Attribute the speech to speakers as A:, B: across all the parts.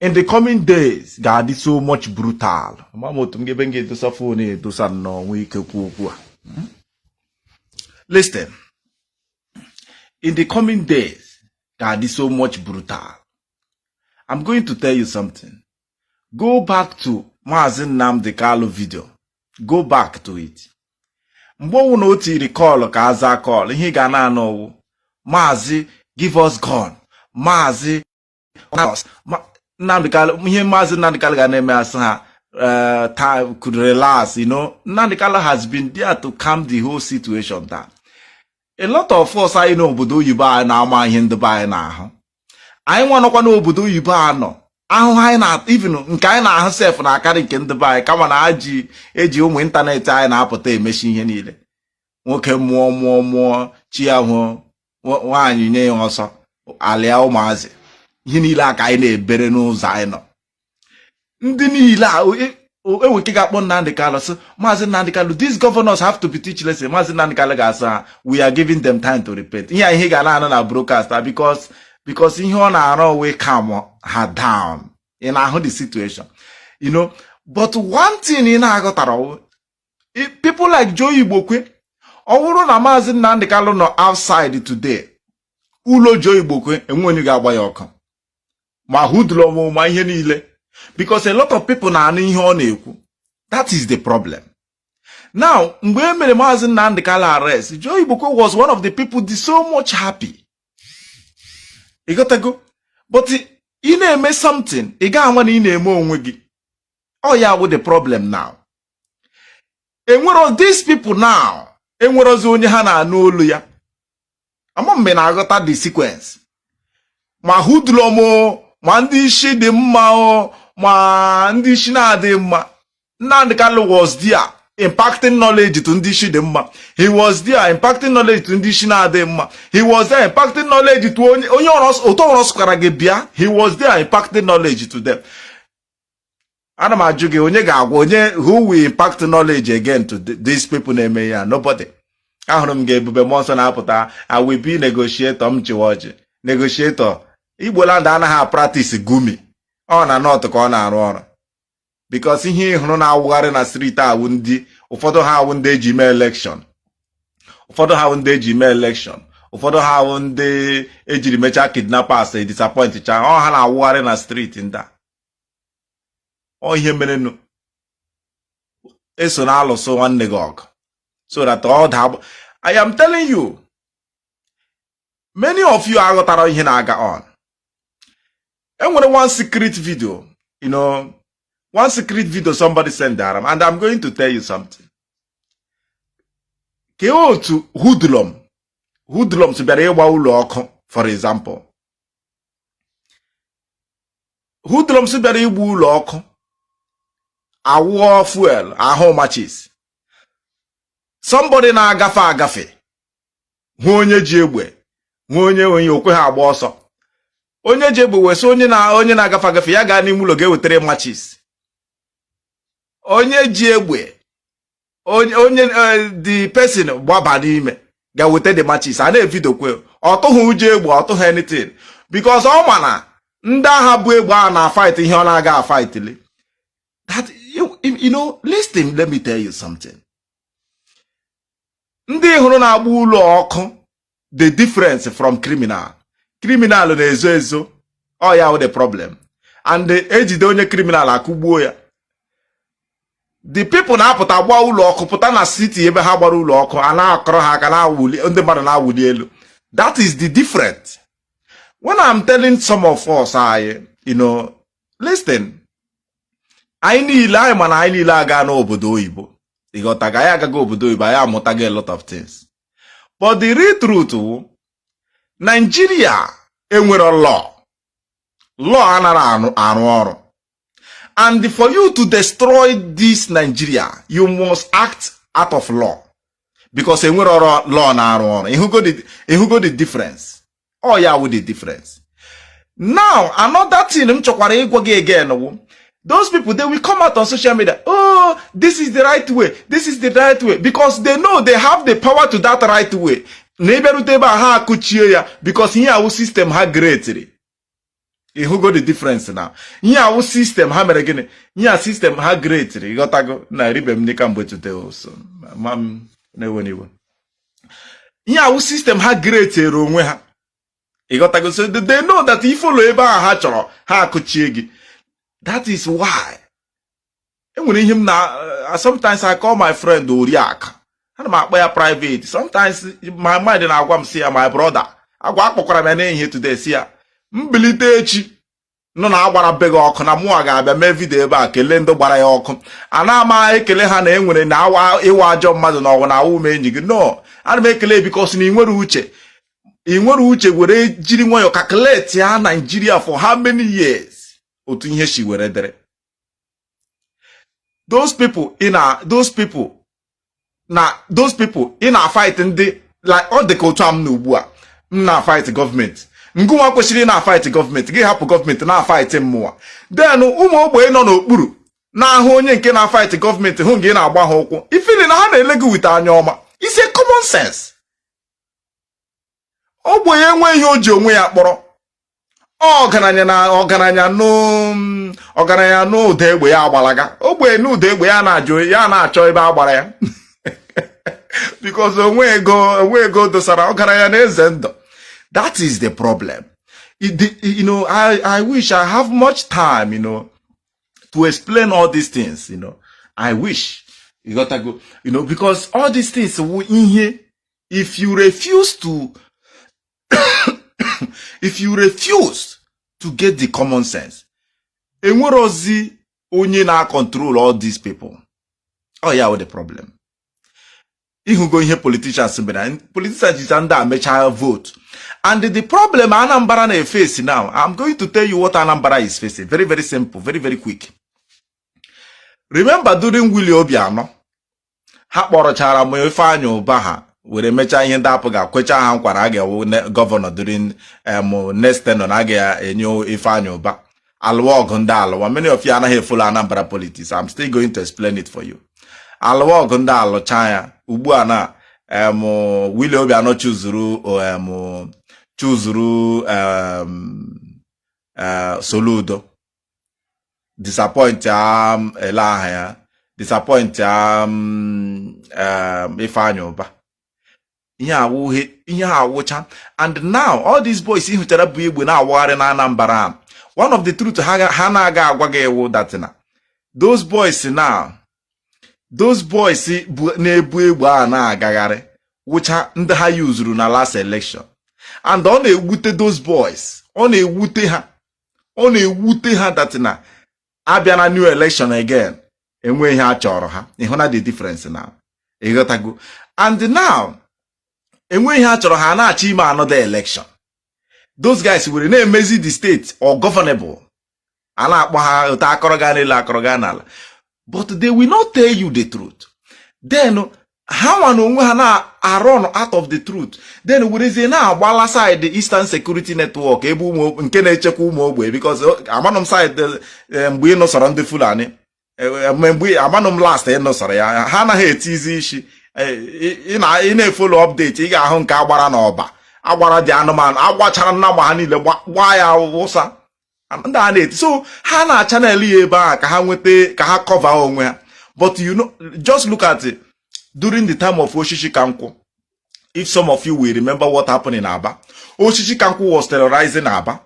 A: in the coming days ga-adị so much brutal ama m otu m ga-ebe m ga-edosa phone edosa nnọọ nwee ike kwuo okwu a hmm? listen in the coming days ga-adị so much brutal I'm going to tell you something go back to Maazị Nnamdi Kalu video go back to it mgbe ọ wụna o tiri call ka a zaa call ihe ị ga na-anụ ọ wụ maazị give us gun maazị ihe maazị Nnamdi Kalu ga na-eme asị ha eh, time could relax you know Nnamdi Kalu has been there to calm the whole situation down a lot of us anyị nọ obodo oyibo anaghị ama ihe ndị be anyị na-ahụ anyị nwa nọkwa n'obodo oyibo a nọ ahụhụ anyị na even nke anyị na-ahụ sef na-akarị nke ndị be anyị kama na ha ji eji ụmụ ịntanetị anyị na-apụta emechi ihe niile nwoke mụọ mụọ mụọ chi ya hụọ nwaanyị nye ya ọsọ alịa ụmụazị ihe niile a ka anyị na-ebere n'ụzọ anyị nọ ndị niile a enwere ike ga-akpọ Nnamdị Kalụ sị maazị Nnamdị Kalụ these governors have to be teach lesson maazị Nnamdị Kalụ ga-asị ha we are giving them time to repent ihe ị ga na-anụ na broadcast because because ihe ọ na-arụ wụ ị calm ha down ị na-ahụ the situation you know but one thing ị na-aghọtara people like Joe Igbokwe ọ bụrụ na maazị Nnamdị Kalụ nọ outside today ụlọ Joe Igbokwe enwe onye ga-agba ya ọkụ ma hoodlum ma ihe niile because a lot of people na-anụ ihe ọ na-ekwu that is the problem now mgbe e mere maazị Nnamdị Kalụ arrest Joe Igbokwe was one of the people dị so much happy ị ghọtago but ị na-eme something ị ga-ama na ị na-eme onwe gị ọ ya wụ the problem now enwero these people now enwerozi onye ha na-anụ olu ya ama m ma ị na-aghọta the sequence ma hoodlum ma ndị isi dị mma o ma ndị isi na-adịghị mma Nnamdi Kalu was there impacting knowledge to ndị isi dị mma he was there impacting knowledge to ndị isi na-adịghị mma he was there impacting knowledge to onye onye ọrụ ụtọ ọrụ sụkara gị bịa he was there impacting knowledge to them ana m ajụ gị onye ga-agwa onye who will impact knowledge again to these people na-eme ya nobody ahụrụ m ka Ebube Mmụọ Nsọ na-apụta I will be negotiator m chịwa ọchị negotiator Igbo land anaghị a-practice Gumi ọ na north ka ọ na-arụ ọrụ because ihe ị hụrụ na-awụgharị na street awụ ndị ụfọdụ ha awụ ndị eji mee election ụfọdụ ha awụ ndị eji mee election ụfọdụ ha awụ ndị ejiri mechaa kidnappers disappoint cha ọ ha na-awụgharị na street ndị a ọ ihe merenụ esona alụso nwanne gị ọgụ so that ọ daa I am telling you many of you aghọtarọ ihe na-aga on enwere one secret video you know one secret video somebody send ara m and I'm going to tell you something kee otu hoodlum hoodlums bịara ịgba ụlọ ọkụ for example hoodlums bịara ịgba ụlọ ọkụ awụọ fuel ahụụ matches somebody na-agafe agafe hụ onye ji egbe hụ onye onye o kweha agba ọsọ onye ji egbe wee sị onye na onye na-agafe agafe ya gaa n'ime ụlọ ga wetara matches onye ji egbe onye onye eh, the person gbaba n'ime ga weta the matches a na-evideokwe ọ tụghị ụjọ egbe ọ tụghị anything because ọ ma na ndị agha bu egbe a na-afight ihe ọ na-aga afightli that you, you know listen let me tell you something ndị ị hụrụ na-agba ụlọ ọkụ dị different from criminal criminal na-ezo ezo ọ ya wụ the problem and e jide onye criminal akụgbuo ya the people na-apụta gbaa ụlọ ọkụ pụta na city ebe ha gbara ụlọ ọkụ a na-akụrụ ha aka na-awụli ndị mmadụ na-awụli elu that is the difference when I'm telling some of us anyị you know listen anyị niile anyị ma na anyị niile aga n'obodo oyibo ịghọtago anyị agaghị obodo oyibo anyị amụtago a lot of things but the real truth wụ Nigeria enwerọ law law anarọ arụ ọrụ and for you to destroy this Nigeria you must act out of law because enwerọrọ law na-arụ ọrụ ịhụgo the- ịhụgo the difference ọ ya wụ the difference now another thing m chọkwara ịgwa gị again wụ those people they will come out on social media oh this is the right way this is the right way because they know they have the power to that right way na ị bịarute ebe a ha akụchie ya because ihe a wụ system ha createre ịhụgo the difference now ihe a wụ system ha mere gịnị ihe a system ha createre ịghọtago na eribe m nri kamgbe today o so mee m na-ewe iwe ihe a wụ system ha createre onwe ha ịghọtago so they know that ị follow ebe ahụ ha chọrọ ha akụchie gị that is why enwere ihe m na uh, sometimes I call my friend Oriakụ ana m akpọ ya private sometimes my mind na-agwa m sị ya my brother agwa akpọkwara m ya n'ehihie today sị ya m bilite echi nụ na a gbara be gị ọkụ na mụnwa ga-abịa mee vidio ebe a kelee ndị gbara ya ọkụ anaghị m ekele ha na ewere na ị wụ ajọ mmadụ na ọ wụ na awụ m enyi gị no ana m ekele because na ị nwere uche ị nwere uche were jiri nwayọọ calculate ya Nigeria for how many years otu ihe si were dịrị those people ị na those people na those people ị na fight ndị like ọ dị ka otu a m nọ ugbu a m na fight gọọmenti gịnwa kwesịrị ịna fight gọọmenti gị hapụ gọọmenti na fight mụwa then ụmụ ogbenye nọ n'okpuru na-ahụ onye nke na fight gọọmenti hụ gị na-agba ha ụkwụ ị feel na ha na-ele gị with anya ọma is common sense ogbenye enweghị ihe o ji onwe ya kpọrọ ọgaranya na ọgaranya ọgaranya nụ ụda egbe ya agbalaga ogbenye nụ ụda egbe ya na-ajụ ya na-achọ ebe a gbara ya because o nweghị ego o nweghị ego dosara ọgaranya na-eze ndụ that is the problem you know I, I wish I have much time you know to explain all these things you know I wish ịghọtago you know because all these things ihe if you refuse to if you refuse to get the common sense enwere ozi onye na-control all these people oh yeah the problem ịhụgo ihe politicians mere politicians jicha ndị a mechaa vote and the problem Anambra na-efesi now I'm going to tell you what Anambra is facing very very simple very very quick remember during Willie Obiano ha kpọrọchara em Ifeanyị Ụba ha were mechaa ihe ndị APGA kwecha ha nkwa na ọ ga-awụ gọvanọ during em next tenure na a ga-enye Ifeanyị Ụba alụwa ọgụ ndị alụwa many of you anaghị efolo Anambra politics I'm still going to explain it for you alụwa ọgụ ndị alụcha ya ugbu a na em Willie Obiano chuzuru em chuzuru em eh, Soludo disappoint um, olee aha ya disappoint um, um, Ifeanyi Uba ihe awụghị ihe ha wụcha and now all these boys ị hụchara bu egbe na-awagharị na Anambra one of the truth ha na-agaghị agwa gị wụ that na those boys now those boys na-ebu egbe a na-agagharị wụcha ndị ha yuzuru na last election and ọ na-ewute those boys ọ na-ewute ha ọ na-ewute ha that na abịa na new election again enweghị ihe a chọrọ ha ị hụna the difference now ịghọtago and now enweghị ihe a chọrọ ha a na-achọ ime another election those guys were na-emezi the state ungovernable a na-akpọ ha otu akọrọ gaa n'elu akọrọ gaa n'ala but they will not tell you the truth then hanwa na onwe ha na-arọn out of the truth then werezie na-agbala side Eastern Security Network ebe ụmụ nke na-echekwa ụmụ ogbe because oh, amanụ m side eh, mgbe ị nụsọrọ ndị Fulani eh, eh, mgbe amanụ m last ị nụsọrọ ya ha anaghị etizi isi ị na-efolo update ị ga-ahụ nke a gbara na Ọba agbara dị anụmanụ agbachara nnama ha niile gbaa ya wụsa ndị a na-eti so ha na channel ya ebe a ka ha nweta ka ha kọva onwe ha but you know just look at it. during the time of oshishi kankwụ if some of you will remember what happened in Aba oshishi kankwụ was terrorizing Aba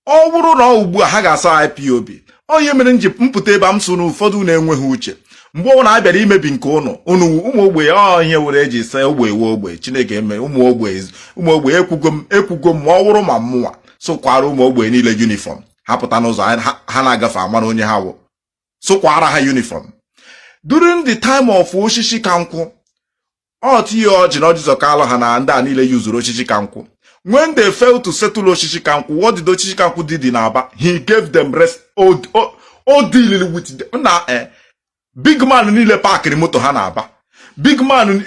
A: ọ wụrụ na ọ wụ ugbu a ha ga-asị IPOB ọ ihe mere m ji m pụta ebe m sị na ụfọdụ ụnụ enweghị uche mgbe ọ na-abịara imebi nke ụnụ ụnụ ụmụ ogbe ọ ihe mere e ji sị ogbe iwe ogbe chineke eme ụmụ ogbe ụmụ ogbe ekwugo m ekwugo m ma ọ wụrụ ma mụnwa sụkwara ụmụ ogbe niile yunifọm ha pụta n'ụzọ ha na-agafe a mara onye ha wụ sụkwara ha yunifọm during the time of oshishi kankwụ ọ T.A. Ọjị na Ọjị Ụzọ Kalụ ha na ndị a niile yuzuru oshishi kankwụ when they fail to settle oshishi kankwụ what did oshishi kankwụ did in Aba he gave them rest o deal with them na eh, big man niile paakịrị moto ha na Aba big man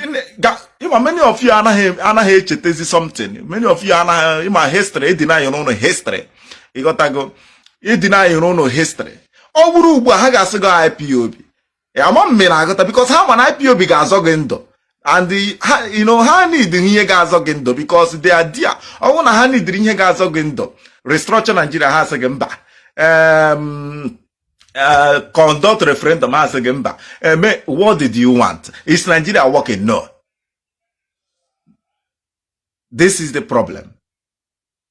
A: ị ma many of you anaghị anaghị echetezi something many of you anaghị ama history e denyrị ụnụ history ị ghọtago e denyrị ụnụ history ọ wụrụ ugbu a ha ga-asị gị IPOB ama m mere aghọta because ha ma na IPOB ga-azọ gị ndụ and ha you know ha need ihe ga-azọ gị ndụ because they are there ọ wụrụ na ha nidiri ihe ga-azọ gị ndụ restructure Nigeria ha asị gị mba uh, conduct referendum a sị gị mba eme eh, what did you want is Nigeria working no this is the problem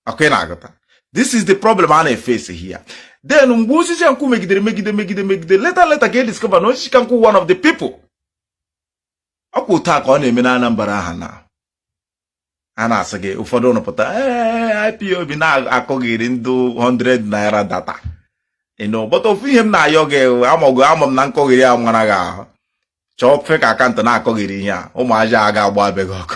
A: okay na-aghọta this is the problem a na-efesi here then mgbe oshishi kankwụ megidere megide megide megide leta leta ka e discover na oshishi kankwụ one of the people ọkwa otu a ka ọ na-eme na Anambra aha na a na-asị gị ụfọdụ ụnụ pụta ee IPOB na-akọghịrị ndị 100 naira data no but ofu ihe m na-ayọ gị amago ama m na nkọghịrị a mara gị ahụ chọọ fake akaụntụ na-akọghịrị ihe a ụmụ aja a ga-agba be gị ọkụ